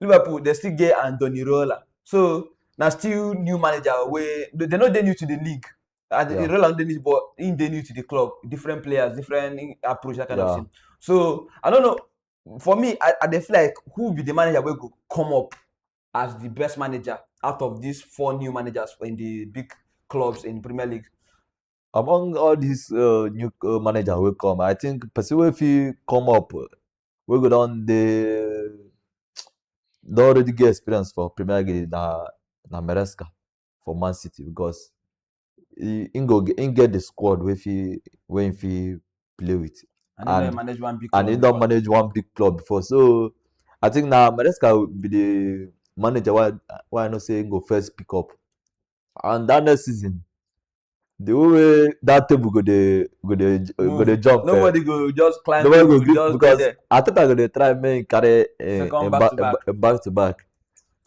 Liverpool they still get Andoni Rola. So now still new manager where they they no dey new to the league. And Yeah. yeah. Rola no dey new but in dey new to the club, different players, different in- approach, that kind Yeah. of thing. So I don't know. For me, I, I dey feel like who be the manager will go come up as the best manager out of these four new managers in the big clubs in Premier League. among all dis uh, new uh, manager wey come i think person wey fit come up uh, wey go don dey don already get experience for premier league na na meresca for man city because he he go get he get the squad wey fit wey he fit play with And he And- don manage one big and he club don before. manage one big club before so i think na meresca be the manager wey i wey i know say he go first pick up and that next season the whole way that table go dey go dey go dey jump. Eh. nobody go just climb nobody go gree just because there. ateta go dey try make him carry eh, him eh, back to back. Eh, back to back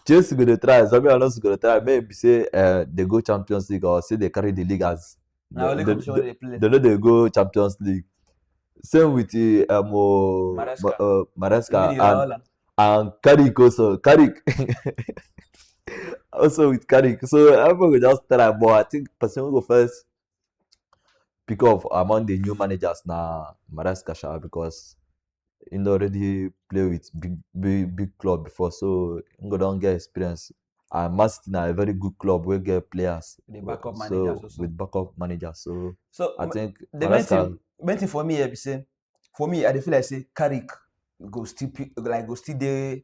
chelsea go dey try zabi alonso go dey try make him be say uh, dey go champions league or say dey carry the league as na only the, competition wey dey play. dem no dey go champions league same with eh, um, oh, Maresca. Ma- uh, maresca Even and Iraola. and Carrick also. Carrick also with Carrick. So everyone will just try, but I think person who go first pick up among the new managers now Maresca Sha because he don already play with big big big club before so he go don get experience and man city na a very good club wey get players The backup so managers also. with backup manager so So i think the main Maresca- thing, main thing for me here be say, for me, I dey feel like say Carrick go still pick, like go still dey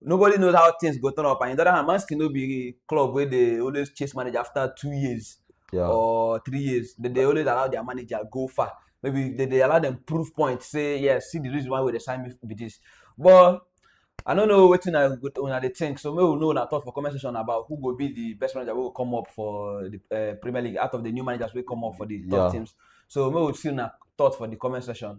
nobody knows how things go turn up. And in the other hand, Man City no be a club where they always chase manager after two years yeah. or three years. They, they always allow their manager go far. Maybe they, they allow them proof points. Say yes, yeah, see the reason why they sign me with this. But I don't know wetin I go una dey think so make we know una thought for comment section about who go be the best manager wey go come up for the uh, Premier League out of the new managers wey come up for the top yeah. teams so make we see una thought for the comment section.